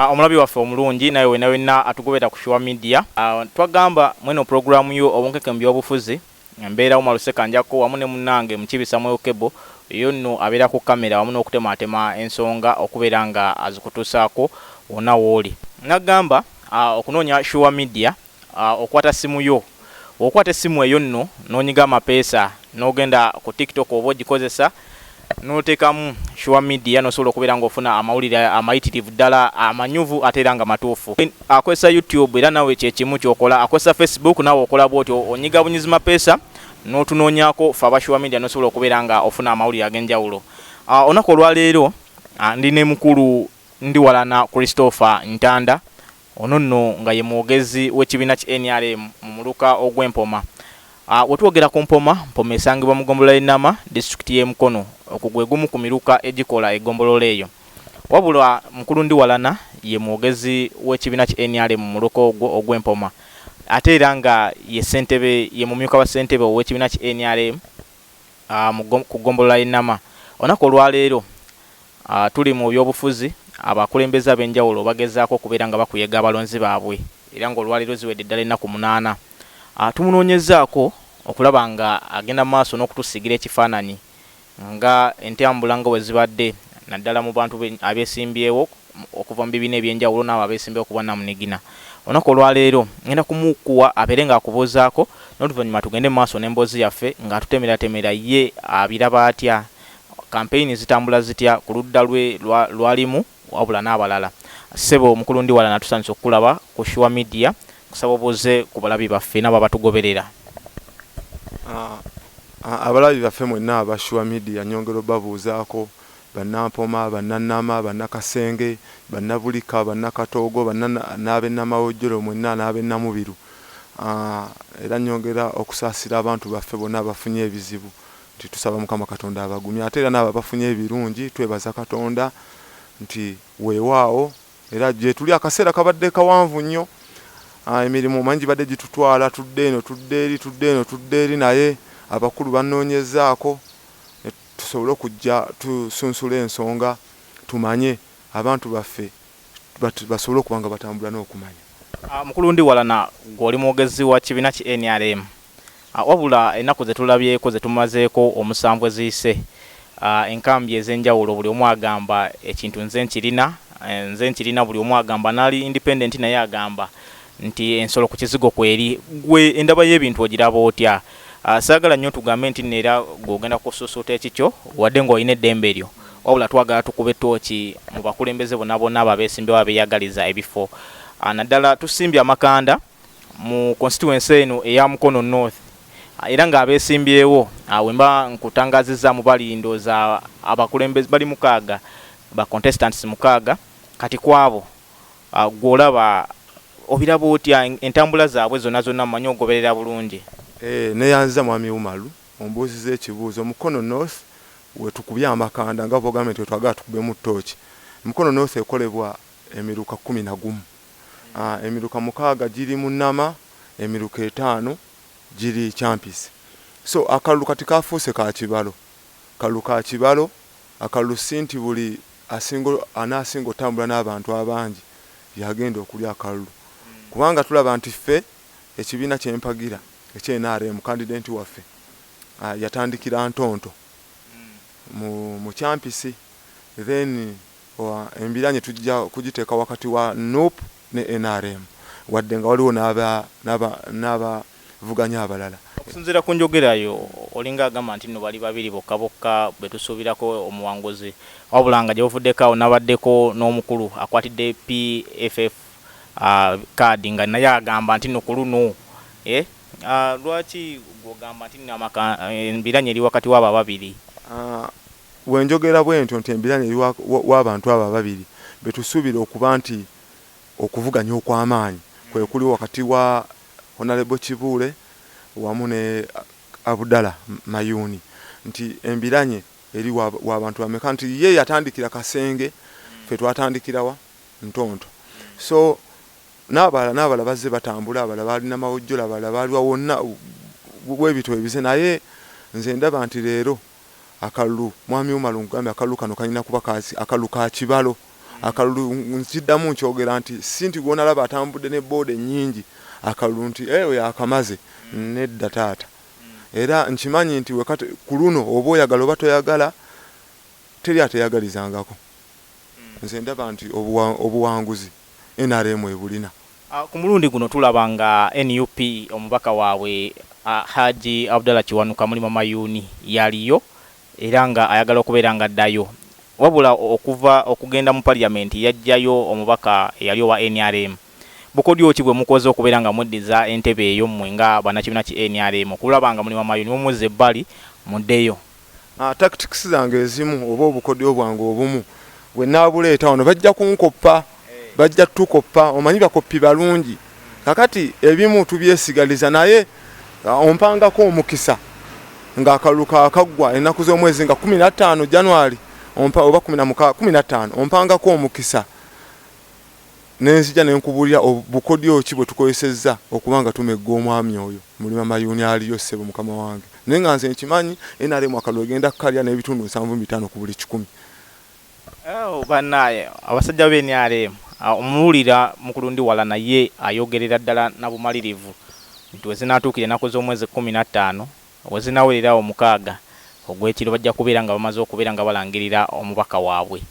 Ah, omulabi waffe omulungi naye wena wena atugobera ku shuwa media ah, twagamba mweno pulogulaamu yo obunkeke mu byobufuzi mbeera wo maluseka njako wamu ne munange mukibi samuel kebo yo nno abeera ku kamera wamu n'okutemaatema ensonga okubeera nga azikutuusaako wona wooli nagamba ah, okunoonya shuwa media Okwata simu yo. Bwokwata essimu eyo nno nonyiga amapeesa nogenda ku tiktok oba ogikozesa notekamu sure media nosobola okubeera nga ofuna amawulire amayitirivu ddala amanyuvu ate era nga matuufu. Akozesa youtube era nawe kyekimu kyokola akozesa facebook nawe okola bwotyo onyiga bunyizi mapeesa notunonyako ffe aba sure media nosobola okubeera nga ofuna amawulire agenjawulo. Olunaku olwaleero ndi ne mukulu Ndiwalana Christopher Ntanda Ono nno nga ye mwogezi w'ekibiina ki nrm mu muluka ogw'e Mpoma. Wetwogera ku Mpoma, Mpoma esangibwa mu gombolola y'e Nama, disitulikiti y'e Mukono. Ogwo gwe gumu ku miruka egikola egombolola eyo. Wabula mukulu Ndiwalana ye mwogezi w'ekibiina ki nrm mu muluka ogwo ogw'e Mpoma ate era nga ye ssentebe ye mumyuka wa ssentebe ow'ekibiina ki nrm. ku ggombolola y'e Nama. Olunaku olwaleero tuli mu byobufuzi, abakulembeze ab'enjawulo bagezaako okubeera nga bakuyega abalonzi baabwe era ng'olwaleero ziwedde ddala ennaku munaana. Tumunoonyezzaako okulaba ng'agenda mu maaso n'okutusiigira ekifaananyi nga entambula nga bwe zibadde naddala mu bantu abesimbyewo. okuva mu bibiina eby'enjawulo n'abo abeesimbyewo ku bwannamunigina. Olunaku olwaleero ngenda kumukuwa abeere ng'akubuuzaako n'oluvannyuma tugende mu maaso n'emboozi yaffe ng'atutemeratemera ye abiraba atya, kampeyini zitambula zitya ku ludda lwe lw'alimu wabula n'abalala. Ssebo Mukulu Ndiwalana tusanyuse okukulaba ku Sure Media, nkusaba obuuze ku balabi baffe n'abo abatugoberera. Abalabi baffe mwenna aba Sure Media nnyongera obabuuzaako Bannampoma, Bannannama, Bannakasenge, Bannabulika, Bannakatoogo, banna n'ab'e Namawojjolo mwenna n'ab'e Namubiru era nnyongera okusaasira abantu baffe bonna abafunye ebizibu nti tusaba Mukama Katonda abagumye ate era n'abo abafunye ebirungi twebaza Katonda nti weewaawo era gyetuli akaseera kabadde kawanvu nnyo emirimu omanyi gibadde gitutwala tudde eno tudde eri tudde eno tudde eri naye abakulu bannoonyezaako tusobole okujja tusunsule ensonga tumanye abantu baffe basobole okuba nga batambula n'okumanya. Mukulu Ndiwalana gwe oli mwogezi wa kibiina ki nrm wabula ennaku zetulabyeko zetumazeeko omusanvu eziyise enkambi ezenjawulo buli omu agamba ekintu nze nkirina nze nkirina buli omu agamba nali independent naye agamba nti ensolo ku kizigo kweri gwe endaba y'ebintu ogiraba otya? Ah, saagala nnyo tugambe nti nno era gwe ogenda kusuusuuta ekikyo wadde ng'olina eddembe lyo wabula twagala tukube ttooki mu bakulembeze bonna bonna abo abeesimbyewo abeeyagaliza ebifo ah, naddala tusimbye amakanda mu konsituwensi eno eya mukono north ah, era ng'abeesimbyewo wemba nkutangazizzaamu bali ndooza abakulembeze bali mukaaga ba contestants mukaaga kati kwabo Gwe olaba obiraba otya entambula zabwe zona zona mumanyi ogoberera bulungi. Eeh neyanziza mwami Umalu ombuuziza ekibuuzo Mukono North wetukubye amakanda nga bwogambye nti wetwagala tukubemu tooki Mukono North ekolebwa emiruka kkumi nagumu aah emiruka mukaaga giri mu Nama emiruka etaano giri Kyampisi so akalulu kati kafuuse ka kibalo kalulu ka kibalo Akalulu si nti buli asinga anaasinga otambula n'abantu abangi y'agenda okulya akalulu kubanga tulaba nti ffe ekibiina kye mpagira ekya nrm kandidenti waffe yatandikira Ntonto mu mu kyampisi then embiranye tujja kugiteeka wakati wa nup ne nrm wadde nga waliwo n'abavuganya abalala. Okusinziira ku njogera yo olinga agamba nti nno bali babiri bokka bokka betusuubirako omuwanguzi wabula nga gyebuvuddeko awo nabaddeko n'omukulu akwatidde PFF card nga naye agamba nti nno kuluno lwaki gwe ogamba nti nno embiranye eri wakati wabo ababiri? Bwe njogera bwentyo nti embiranye eri wa, wa, w'abantu abo ababiri be tusuubira okuba nti okuvuganya okw'amaanyi kwe kuliwo wakati wa Honalebo Kibuule wamu ne Abudala Mayuuni, nti embiranye eri wa, w'abantu bameka, nti ye yatandikira Kasenge, ffe twatandikira wa? Ntonto. So, n'abalala, n'abalala bazze batambula, abalala baali Namawojjolo, abalala baali wa, wonna bwe bityo bwe bizze, naye nze ndaba nti leero akalulu mwami Umar nkugambye akalulu kano kalina kuba ka akalulu ka kibalo akalulu nkiddamu nkyogera nti si nti gwonalaba atambudde ne booda ennyingi akalulu nti eh, oyo akamaze nedda taata era nkimanyi nti wekati ku luno oba oyagala oba toyagala teri ateyagalizangako Nze ndaba nti obuwanguzi nrm ebulina. Ku mulundi guno tulaba nga nup omubaka waabwe Hajji Abdallah Kiwanuka Mulima Mayuuni yaliyo era nga ayagala okubeera nga addayo wabula okuva okugenda mu parliament yaggyayo omubaka eyali owa nrm. Bukodyo ki bwemukoze okubeera nga mweddiza entebe eyo mmwe nga bannakibiina ki nrm okulaba nga Mulima Mayuuni mumuzza ebbali muddeyo? Ah, tactics zange ezimu oba obukodyo bwange obumu bwe naabuleeta wano bajja kunkoppa bajja tukoppa omanyi bakoppi balungi kakati ebimu tubyesigaliza naye ah, ompangako omukisa ng'akalulu kakaggwa ennaku z'omwezi nga kumi na ttaano january oba kumi na mukaa kumi na ttaano ompangako omukisa Ne nzija ne nkubuulira ob, bukodyo ki bwe tukozesezza okuba nga tumegga omwami oyo. Mulima mayuuni aliyo, ssebo, mukama wange. Naye nga nze nkimanyi, nrm akalulu egenda kukalya n'ebitundu nsanvu mu bitaano ku buli kikumi. Oh, bannaaye, abasajja be nrm! Omuwulira mukulundiwala, naye ayogerera ddala na bumalirivu nti we zinaatuukira ennaku z'omwezi kkumi na ttaano, we zinaawerera awo mukaaga ogw'ekiro, bajja kubeera nga bamaze okubeera nga balangirira omubaka waabwe.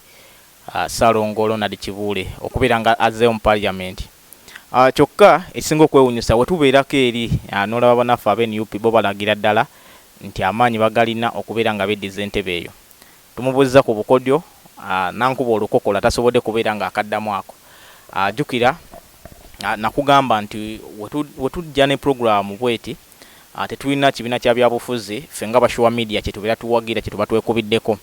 Ssalongo Ronald Kibuule okubeera nga azzeeyo mu parliament kyokka ekisinga okwewunyisa wetubeerako eri n'olaba banaffe aba nup bo balagira ddala nti amaanyi bagalina okubeera nga beddiza entebe eyo. Tumubuzza ku bukodyo nankuba olukokola tasobodde kubeera nga akaddamu ako. Jukira nakugamba nti wetujja ne program bweti, Tetulina kibiina kya byabufuzi ffe nga ba Sure Media kyetubeera tuwagira, kyetuba twekubiddeko.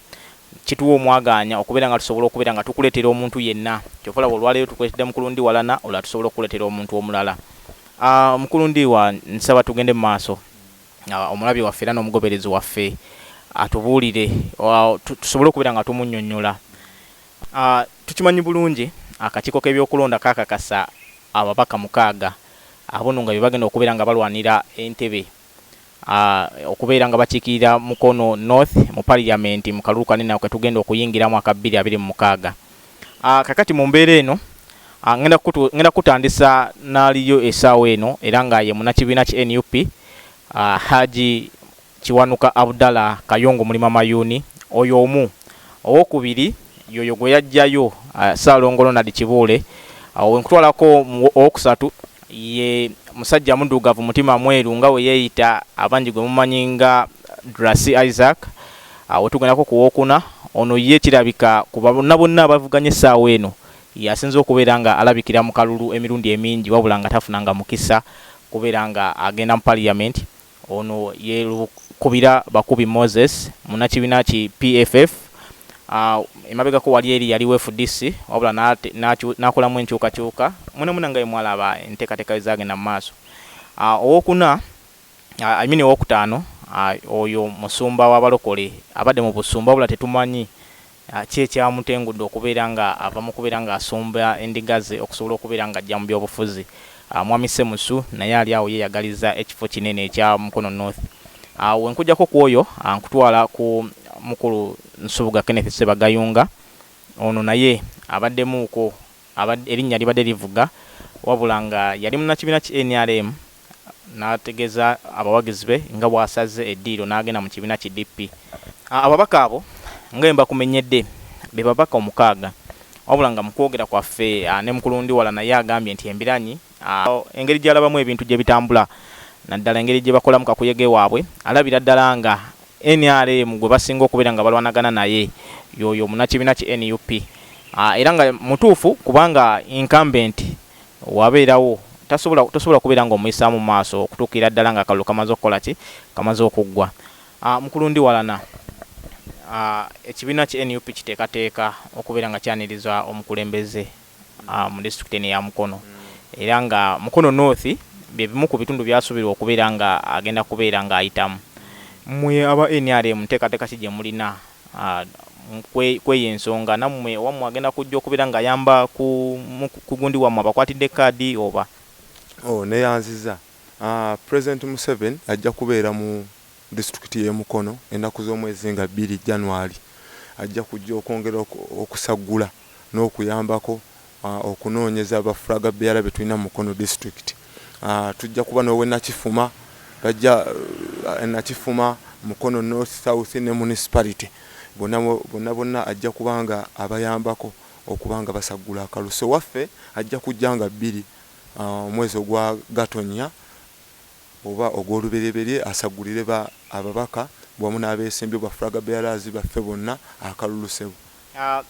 Kituwa omwagaanya okubeera nga tusobola okubeera nga tukuleetera omuntu yenna. Kyova olaba olwaleero tukuleetedde Mukulu Ndiwalana, olulala tusobola okukuleetera omuntu omulala. Mukulu Ndiwa nsaba tugende mu maaso omulabi waffe era n'omugoberezi waffe atubuulire tusobole okubeera nga tumunnyonnyola Tukimanyi bulungi akakiiko k'ebyokulonda kakakasa ababaka mukaaga abono nga bebagenda okubeera nga balwanira entebe okubeera nga bakiikirira Mukono North mu parliament mu kalulu kano eno ketugenda okuyingiramu aka bbiri abiri mu mukaaga. Kakati mu mbeera eno ngenda kutandisa n'aliyo esaawa eno era nga ye munakibiina ki nup Hajji Kiwanuka Abdallah Kayongo muli mamayuuni oyo omu, owokubiri yoyo gwe yaggyayo Ssaalongo Ronald Kibuule, awo we nkutwalako mu owokusatu ye musajja muddugavu mutima mweru nga we yeeyita abangi gwe mumanyi nga Drasy Isaac, awo tugendako ku wookuna, ono ye kirabika ku bonna bonna abavuganya essaawa eno y'asinze okubeera nga alabikira mu kalulu emirundi emingi wabula nga tafunanga mukisa kubeera nga agenda mu parliament. Ono yelukubira Bakubi Moses munakibiina ki PFF emabegako wali eri yali fdc wabula nakolamu enkyukakyuka mwena mwena nga bwemwalaba entekateka wezagenda mumaaso. Owokuna I mean owokutaano oyo musumba wabalokole abade mubusumba wabula tetumanyi Ki ekyamutengudde okubeera nga ava mu kubeera nga asumba endiga ze okusobola okubeera nga ajja mu byobufuzi? Mwami Ssemusu naye ali awo yeyagalizza ekifo kinene ekya Mukono North. Bwe nkujjako ku oyo, nkutwala ku mukulu Nsubuga Kenneth Ssebagayunga. Ono naye abaddemuuko. abadde erinnya libadde livuga wabula nga yali munnakibiina ki nrm n'ategeeza abawagizi be nga bw'asazze eddiiro n'agenda mu kibiina ki DP. Ababaka abo nga bwe mbakumenyedde be babaka omukaaga wabula nga mu kwogera kwaffe ne Mukulundiwala naye agambye nti embiranyi Engeri gy'alabamu ebintu gye bitambula naddala engeri gye bakolamu kakuyege waabwe alabira ddala nga nrm gwe basinga okubeera nga balwanagana naye y'oyo munnakibiina ki nup era nga mutuufu kubanga incumbent wabeerawo tosobola kubeera ng'omuyisaamu mu maaso okutuukira ddala ng'akalulu kamaze okukola ki kamaze okuggwa. Mukulu Ndiwalana, ekibiina ki nup kiteekateeka okubeera nga kyaniriza omukulembeze mu disitulikiti eno eya Mukono era nga Mukono North bye bimu ku bitundu byasuubirwa okubeera nga agenda kubeera nga ayitamu. Mmwe aba nrm nteekateeka ki gye mulina kw'eyo ensonga? Nammwe owammwe agenda kujja okubeera nga ayamba ku gundi wammwe abakwatidde kaadi oba? Nneeyanziza. Pulezidenti Museveni ajja kubeera mu disitulikiti y'e Mukono ennaku z'omwezi nga bbiri, January, ajja kujja okwongera okusaggula n'okuyambako okunoonyeza ba flag bearer be tulina mu Mukono district. Tujja kuba n'ow'e Nakifuma, bajja e Nakifuma, Mukono North, South ne Municipality bonna bonna bonna ajja kuba nga abayambako okuba nga basaggula akalulu. So waffe ajja kujja nga bbiri omwezi ogwa Gatonnya. oba ogw'oluberyeberye asaggulire ba ababaka wamu n'abeesimbyewo ba flag bearers baffe bonna akalulu ssebo.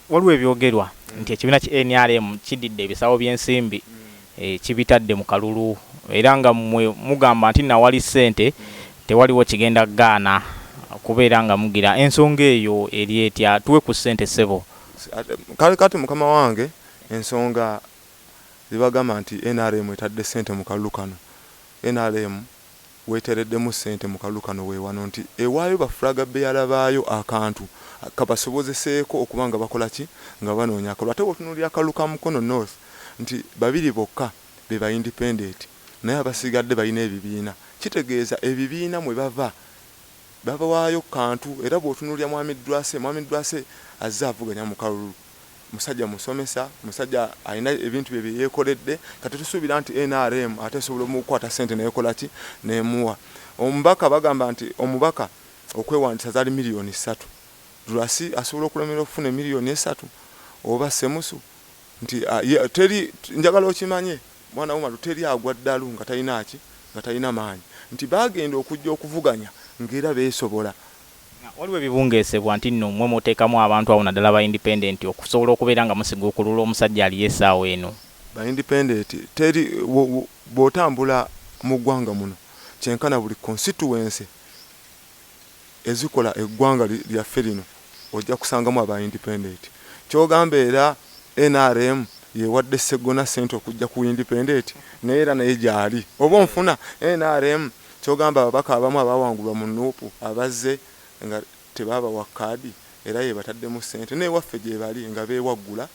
Waliwo ebyogerwa nti ekibiina ki nrm kiddidde ebisawo by'ensimbi kibitadde mu kalulu era nga mmwe mugamba nti nawali ssente tewaliwo kigenda gaana kubeera nga mugira, ensonga eyo eri etya? Tuwe ku ssente ssebo. Kale kati mukama wange ensonga. zibagamba nti nrm etadde ssente mu kalulu kano, nrm wetereddemu ssente mu kalulu kano we wano nti ewaayo ba flag bearer baayo akantu kabasobozeseeko okuba nga bakola ki? nga banoonya akalulu ate bwotunuulira akalulu ka Mukono North nti babiri bokka be ba independent naye abasigadde balina ebibiina kitegeeza ebibiina mwe bava babawaayo kantu era bwotunuulira Mwami Dwase, Mwami Dwase azze avuganya mu kalulu. musajja musomesa, musajja alina ebintu bye bye yeekoledde. Kati tusuubira nti nrm ate esobola omukukwata ssente n'ekola ki? N'emuwa. Omubaka bagamba nti omubaka okwewandiisa zaali miliyoni ssatu. Drc asobola okulemererwa okufuna emiliyoni essatu? Oba Ssemusu nti ye teri, njagala okimanye mwana w'omalu, teri agwa ddalu nga talina ki? Nga talina maanyi. Nti baagenda okujja okuvuganya ng'era beesobola. Waliwo ebibungeesebwa nti nno mmwe muteekamu abantu abo naddala aba independent okusobola okubeera nga musiguukulula omusajja aliyo essaawa eno. Ba independent teri bwotambula mu ggwanga muno kyenkana buli constituency ezikola eggwanga lyaffe lino ojja kusangamu aba independent. Kyogamba era nrm yewadde Sseggona ssente okujja ku independent naye era naye gyali oba onfuna? Nrm. Kyogamba ababaka abamu abaawangulwa mu nup abazze nga tebaabawa kaadi era yebataddemu ssente n'ewaffe gyebali nga beewaggula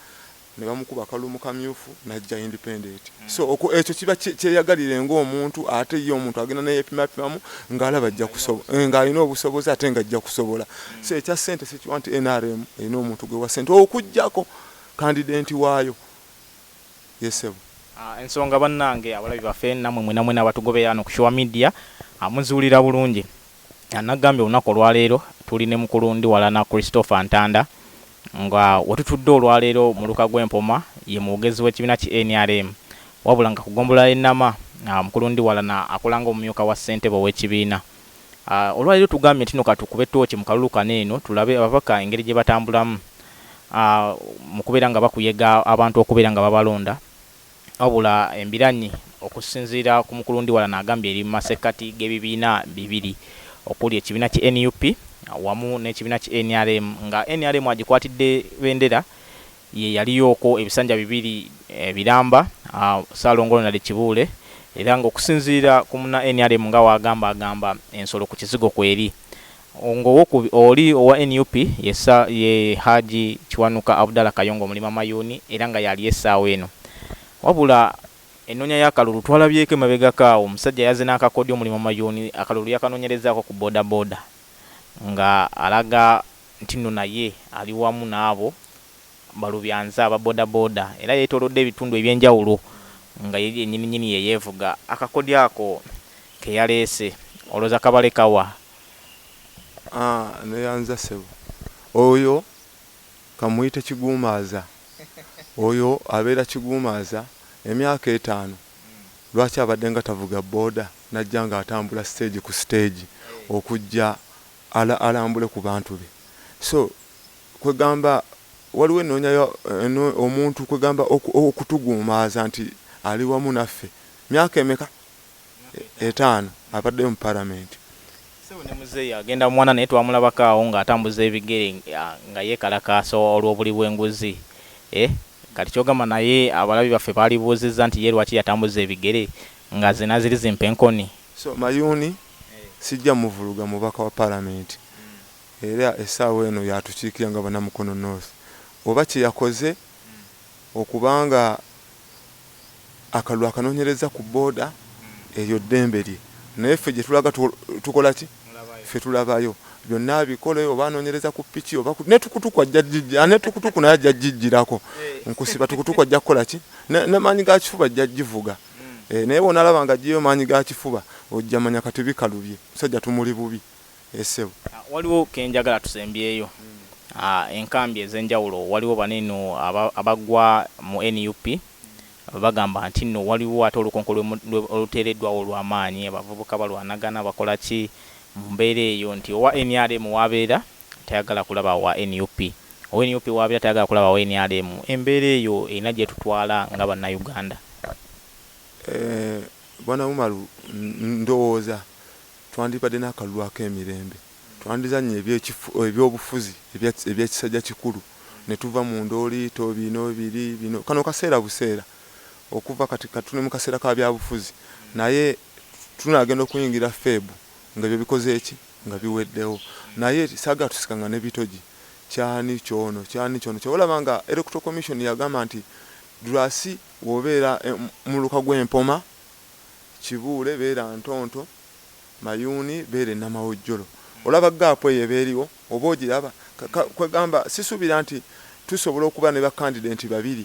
nebamukuba kalulu mu kamyufu najja independent so ekyo kiba kyeyagalire nga omuntu ate ye omuntu agenda neyepimapimamu nga alaba ajja kusobola nga alina obusobozi ate nga ajja kusobola so ekya ssente sikiwa nti nrm erina omuntu gwewa ssente okujjako kandidenti waayo. Yes sebo. Ensonga banange abalabi bafe namwe mwena mwena abatugobera ano ku sure media muziwulira bulungi nagambye olunaku olwaleero tuli ne mukulu ndiwalana Christopher Ntanda nga wetutudde olwaleero muluka gwe Mpoma ye mwogezi wekibina ki nrm wabula nga ku gombolola ye Nama mukulu ndiwalana akola nga omumyuka wa ssentebe owekibiina Olwaleero tugambye ntino katukube tooci mu kalulu kano eno tulabe ababaka engeri gyebatambulamu mu kubeera nga bakuyega abantu okubeera nga babalonda wabula embiranyi okusinziira ku mukulu Ndiwalana agambye eri mu masekkati g'ebibiina bibiri okuli ekibiina ki nup wamu n'ekibiina ki nrm nga nrm agikwatidde bendera Ye yaliyooko ebisanja bibiri ebiramba, Ssaalongo Ronald Kibuule era ng'okusinziira ku munna nrm nga w'agamba agamba ensolo ku kizigo kweri. Ng'owokubiri oli owa nup ye Ssa ye Haji Kiwanuka Abdallah Kayongo Mulima Mayuuni era nga y'aliyo essaawa eno. Wabula ennoonya y'akalulu twalabyeko emabegako awo omusajja yazze n'akakodyo Mulima Mayuuni akalulu yakanoonyerezaako ku bodaboda nga alaga nti nno naye ali wamu n'abo balubyanze aba bodaboda era yeetoolodde ebitundu eby'enjawulo nga ye yennyininyini ye yeevuga akakodyo ako ke yaleese. Olowooza kabaleka wa? Haa, nneeyanza ssebo. Oyo ka mmuyite kiguumaaza. Oyo abeera kiguumaaza emyaka etaano. Lwaki abaddenga tavuga boda n'ajja ng'atambula siteegi ku siteegi okujja ala alambule kubantu be so kwegamba waliwo enonya ya eno omuntu kwegamba oku okutuguumaaza nti ali wamu naffe myaka emeka etaano abaddeyo mu parliament. Ssebo ne muzeeyi agenda mu mwana naye twamulabako awo nga atambuza ebigere nga yekalakaasa olwobuli bwenguzi eh kati kyogamba naye abalabi baffe baalibuuzizza nti ye lwaki yatambuza ebigere nga zena ziri zimpa enkoni. So mayuuni Sijja muvuluga mubaka wa palamenti era essaawa eno y'atukiikirira nga bana Mukono North oba kye yakoze okuba nga akalulu akanoonyerezza ku boda eryo ddembe lye naye ffe gye tulaga tukola ki? Ffe tulabayo. Byonna abikole oba anoonyereza ku piki oba ne tukutuku ajja gijjira ne tukutuku naye ajja gijjirako nkusiba tukutuku ajja kukola ki? Ne maanyi ga kifuba ajja givuga. Eeh naye bwonalaba nga ajjeyo maanyi ga kifuba ojja manya kati bikalubye omusajja tumuli bubi eeh sebo. Waliwo kenjagala tusembyeyo enkambi ezenjawulo waliwo bano eno abagwa mu nup bagamba nti no waliwo ate olukonko oluteredwawo olwamaanyi abavubuka balwanagana bakola ki mumbeera eyo nti owa nrm wabeera tayagala kulaba wa nup, owe nup wabera tayagala kulaba wa nrm, embera eyo erina jetutwala nga banauganda. Eeh bwana umaru ndowooza twandibadde nakalulu akemirembe twandizanye ebyobufuzi ebyakisajja kikulu netuva mu ndooliito bino biri bino kano kaseera buseera okuva kati kati tuli mukaseera kabyabufuzi naye Tunagenda okuyingira Feb nga ebyo bikoze ki? Nga biweddewo. Naye saagala tusikanga ne bitogi. Ky'ani ky'ono, ky'ani ky'ono. Ky'ova olaba nga Electoral Commission yagamba nti Drasi bw'obeera e muluka gw'e Mpoma, Kibuule, beera Ntonto, Mayuuni beera e Namawojjolo. Olaba ggaapu eyo eba eriwo? Oba ogiraba? Ka, ka, kwegamba sisuubira nti tusobola okuba ne bakandidenti babiri.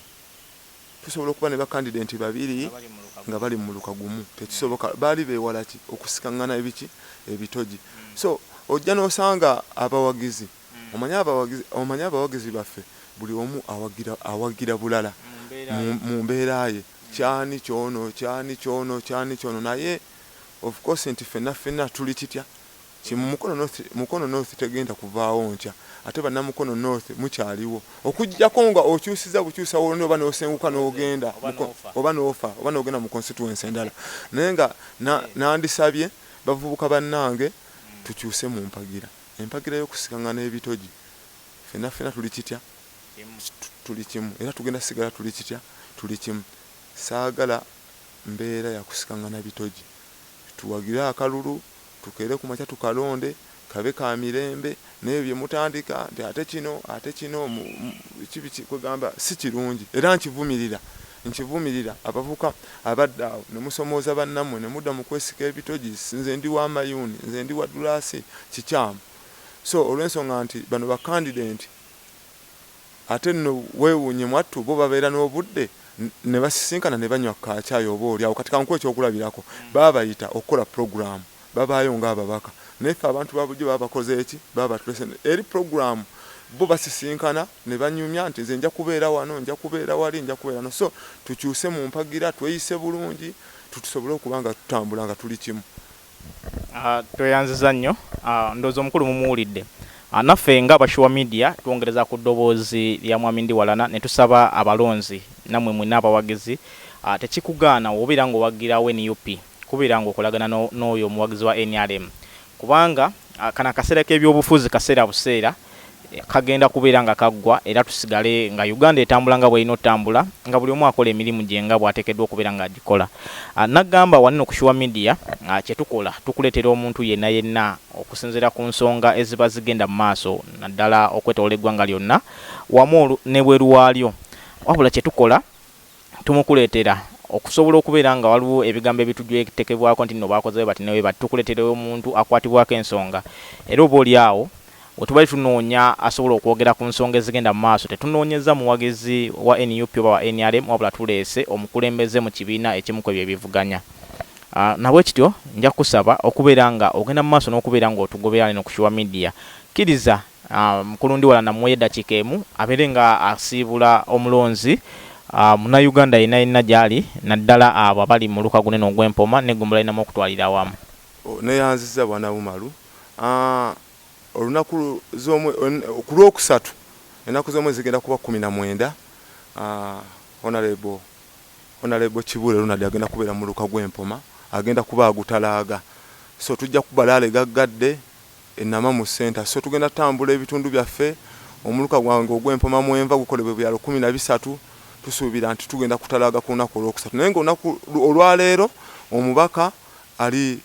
Tusobola okuba ne bakandidenti babiri nga bali mu muluka gumu? Tekisoboka. Baali beewala ki? Okusikang'ana ebiki? Ebitogi. So, ojja n'osanga abawagizi, omanyi, abawagizi, omanyi, abawagizi baffe, buli omu awagira, awagira bulala, mu, mu mbeera ye, ky'ani ky'ono, ky'ani ky'ono, ky'ani ky'ono, naye, of course, nti ffenna, ffenna tuli kitya? Kye mu Mukono North Mukono North tegenda kuvaawo nkya ate Bannamukono North mukyaliwo okuggyako nga okyusizza bukyusa w'olonda oba n'osenguka n'ogenda oba n'ofa oba n'ogenda mu constituency endala naye nga nandisabye bavubuka bannange tukyuse mu mpagira empagira y'okusikang'ana ebitogi ffenna ffenna tuli kitya tuli kimu era tugenda kusigala tuli kitya tuli kimu saagala mbeera ya kusikang'ana bitogi tuwagire akalulu Tukeere ku makya tukalonde kabe ka mirembe n'ebyo bye mutandika nti ate kino ate kino biki biki kwegamba si kirungi era nkivumirira nkivumirira abavubuka abadda awo ne musomooza bannammwe ne mudda mu kwesika ebitogi nze ndi wa mayuuni nze ndi wa ddulaasi kikyamu so olw'ensonga nti bano ba kandidenti Ate nno weewuunye mwattu bo babeera n'obudde ne basisinkana ne banywa ku kaacaayi oboolyawo kati kankuwe ekyokulabirako babayita okukola pulogulaamu babaayo ng'ababaka naye ffe abantu ba bulijjo baba bakoze ki? Baba batuleese eri pulogulaamu bo basisinkana ne banyumya nti nze nja kubeera wano, nja kubeera wali, nja kubeera wano so tukyuse mu mpagira, tweyise bulungi tusobole okuba nga tutambula nga tuli kimu. Tweyanziza nnyo ndowooza omukulu mumuwulidde. Naffe nga aba Sure Media twongereza ku ddoboozi lya Mwami Ndiwalana ne tusaba abalonzi nammwe mwenna abawagizi tekikugaana w'obeera ng'owagirawo nup kubeera ng'okolagana n'oyo omuwagizi wa nrm kubanga kano akaseera k'ebyobufuzi kaseera buseera kagenda kubeera nga kaggwa era tusigale nga Uganda etambula nga bw'erina otambula nga buli omu akola emirimu gye nga bw'ateekeddwa okubeera nga agikola. N'agamba wano eno ku Sure Media kye tukola tukuleetera omuntu yenna yenna okusinziira ku nsonga eziba zigenda mu maaso naddala okwetooloola eggwanga lyonna wamu ne bweru waalyo wabula kye tukola Tumukuletera okusobola okubeera nga waliwo ebigambo ebitujwtekebwako nti nno baakoze bwe bati ne bwe bati, tukuletera omuntu akwatibwako ensonga era oba oli awo we tubadde tunoonya asobola okwogera ku nsonga ezigenda mu maaso tetunoonyezza muwagizi wa nup oba wa nrm wabula tuleese omukulembeze mu kibiina ekimu kwebyo ebivuganya. Nabwekityo nja kukusaba okubeera nga ogenda mu maaso n'okubeera ng'otugoberera eno ku Sure Media. Kkiriza. Mukulundiwala namuwa edakiika emu abeere nga asiibula omulonzi munayuganda yena yena gyali naddala abo abali muluka gunene ogwe Mpoma ne gombolola yenamu okutwalira awamu. Neyanziza bwana Umaru olunaku kulwokusatu enaku zomwezi zigenda kuba kumi na mwenda Honorable Honorable Kibuule Ronald agenda kubera muluka gwe Mpoma agenda kuba agutalaaga so tujja kubalaale gaggadde. e Namamu Centre sso tugenda tambula ebitundu byaffe omuluka gwange ogw'e Mpoma mwenva gukolebwe ebyalo kkumi na bisatu tusuubira nti tugenda kutalaaga ku lunaku olwokusatu naye nga olunaku olwaleero omubaka ali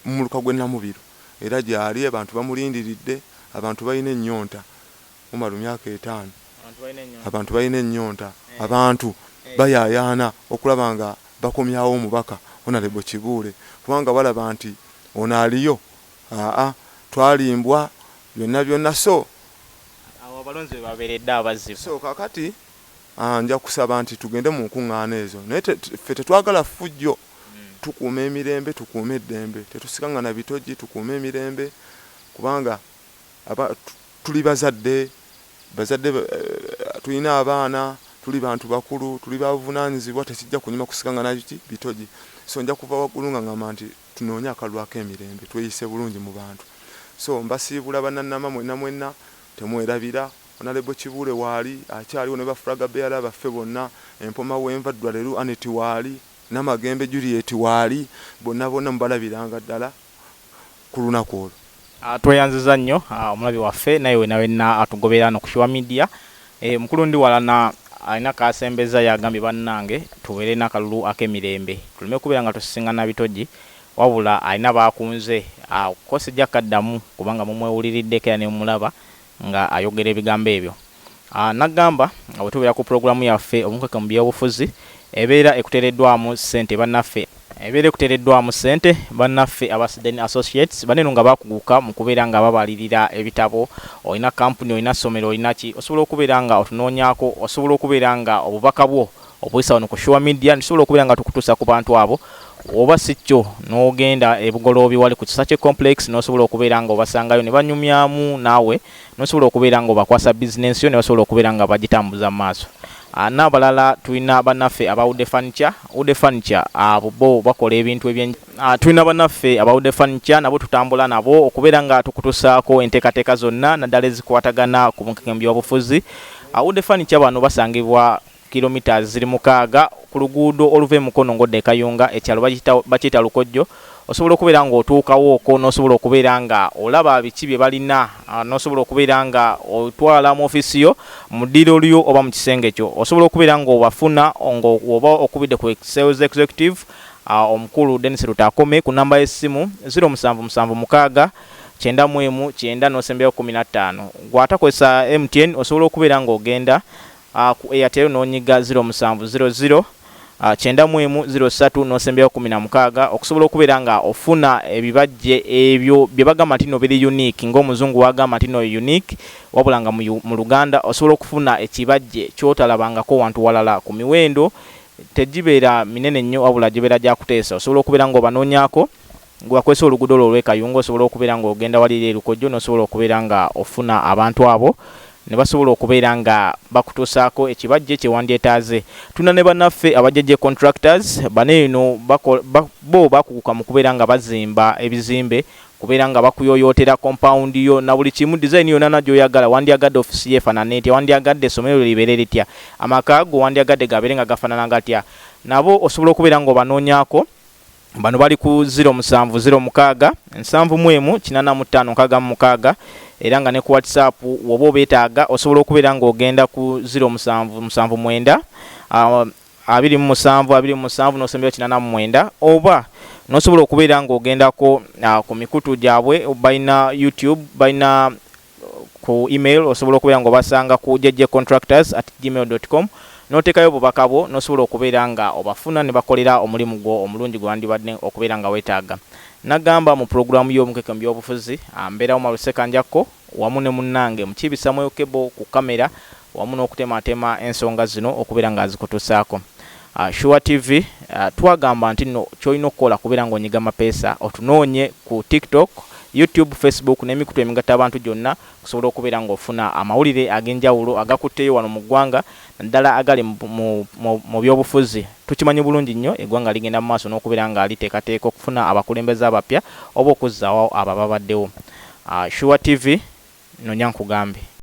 mu muluka gw'e Namubiro era gyali abantu bamulindiridde abantu balina ennyonta Umaru myaka etaano abantu balina ennyonta abantu bayaayaana okulaba nga bakomyawo omubaka Honarebo Kibuule kubanga balaba nti ono aliyo Haa twalimbwa byonna byonna so. Awo abalonzi webaberedde abazzi. So kakati njakusaba nti tugende mu nkungaana ezo naye ffe tetwagala ffujjo tukuuma emirembe tukuume eddembe tetusikangana bitoji tukuume emirembe kubanga tuli bazadde bazadde tulina abaana tuli bantu bakulu tuli babuvunanyizibwa tekijja kunyuma kusikangana bitoji so njakuva waggulu nga ngamba nti Tunoonye akalulu ak'emirembe tweyise bulungi mu bantu so mbasiibula bananama mwena mwena temwerabira Honalebo Kibuule waali akyaliwo ne ba Flag Bearer baffe bonna empoma wenva Ddwalelu Annet waali, Namagembe Juliet waali bonna bonna mubalabiranga ddala kulunaku olwo. Ah, tweyanziza nnyo ah, omulabi waffe naye wena wena atugobera no kushiwa media eh, mukulu ndi walana alina kasembeza yagambye bannange tubeere nakalulu akemirembe tulume kubeera nga tusisiŋana bitoji wabula alina bakunze ah, ko sijja kaddamu kubanga mumwewuliriddeko era nemumulaba nga ayogera ebigambo ebyo nagamba nga bwetubeera ku pulogulamu yaffe omunkeke mu byobufuzi ebeera ekutereddwamu sente banaffe ebeera ekutereddwamu sente banaffe aba Siden Associates bano eno nga bakuguka mu kubeera nga babalirira ebitabo olina kampuni olina somero olina ki osobola okubeera nga otunoonyako osobola okubeera nga obubaka bwo obuyisa wano ku sure media ntusobola okubeera nga tukutuusa ku bantu abo oba si kyo n'ogenda ebugoloobi wali ku kisakye complex n'osobola okubeera nga obasangayo ne banyumyamu naawe n'osobola okubeera nga obakwasa bizinensi yo ne basobola okubeera nga bagitambuza mu maaso ah, n'abalala tulina bannaffe aba ude furniture ude furniture abo ah, bo bakola ebintu ebye ah, tulina bannaffe aba ude furniture nabo tutambula nabo okubeera nga tukutusaako enteekateeka zonna naddala ezikwatagana ku bunkekembi obufuzi ude furniture bano basangibwa kilometres ziri mukaaga ku luguudo oluva e Mukono ng'odda e Kayunga, ekyalo bakiyita bakiyita Lukojjo, osobola okubeera ng'otuukawo okwo n'osobola okubeera nga olaba biki bye balina, n'osobola okubeera nga otwala mu ofiisi yo, mu ddiiro lyo oba mu kisenge kyo, osobola okubeera ng'obafuna ng'oba okubidde ku Sales Executive omukulu Denis Lutakome ku nnamba y'essimu, ziro musanvu musanvu mukaaga kyenda mu emu kyenda n'osembyayo kkumi na ttaano. Ggwe atakozesa MTN osobola okubeera ng'ogenda a ku Airtel n'onyiga ziro musanvu ziro ziro a kyenda mu emu ziro ssatu n'osembyayo kkumi na mukaaga okusobola okubeera nga ofuna ebibajje ebyo bye bagamba nti nno biri unique ng'omuzungu w'agamba nti nno unique wabula nga mu mu Luganda osobola okufuna ekibajje ky'otalabangako wantu walala ku miwendo tegibeera minene nnyo wabula gibeera gya kuteesa osobola okubeera ng'obanoonyaako Ng'ewakwese oluguudo lwo olw'e Kayunga osobola okubeera ng'ogenda wali eri e Lukojjo n'osobola okubeera nga ofuna abantu abo ne basobola okubeera nga bakutuusaako ekibajje kye wandyetaaze. Tulina ne bannaffe aba JJ Contractors, bano eno bakola, bo baakuguka mu kubeera nga bazimba ebizimbe, kubeera nga bakuyooyootera compound yo na buli kimu, design yonana gy'oyagala, wandyagadde office yo efanane etya, wandyagadde essomero lyo libeere litya, amaka go wandyagadde gabeere nga gafanana gatya, nabo osobola okubeera ng'obanoonyaako. Bano bali ku 07 06 nsanvu mu emu kinana mu ttaano nkaaga mu mukaaga era nga ne ku whatsapp woba obeetaaga osobola okubeera ng'ogenda ku 07 musanvu mwenda ah, abiri mu musanvu abiri mu musanvu n'osembera kinana mu mwenda oba n'osobola okubeera ng'ogendako ah, ku mikutu gyabwe balina youtube balina Ku email osobola okubeera nga obasanga ku jjcontractors at gmail dot com n'oteekayo obubaka bwo n'osobola okubeera nga obafuna ne bakolera omulimu gwo omulungi gwe wandibadde okubeera nga weetaaga. Nagamba mu pulogulaamu y'Omukeke mu by'obufuzi, mbeera Umar Ssekanjakko wamu ne munnange Mukiibi Samuel Kebo ku kkamera wamu n'okutematema ensonga zino okubeera nga azikutusaako. Sure TV twagamba nti no kyolina okukola kubeera nga onyiga mapeesa otunoonye ku tiktok, YouTube, Facebook n'emikutu emigatta abantu gyonna okusobola okubeera nga ofuna amawulire ag'enjawulo agakutteyo wano mu ggwanga naddala agali mu byobufuzi. Tukimanyi bulungi nnyo eggwanga ligenda mu maaso n'okubeera nga liteekateeka okufuna abakulembeze abapya oba okuzzaawo abo ababaddewo. Sure TV nonya nkugambe.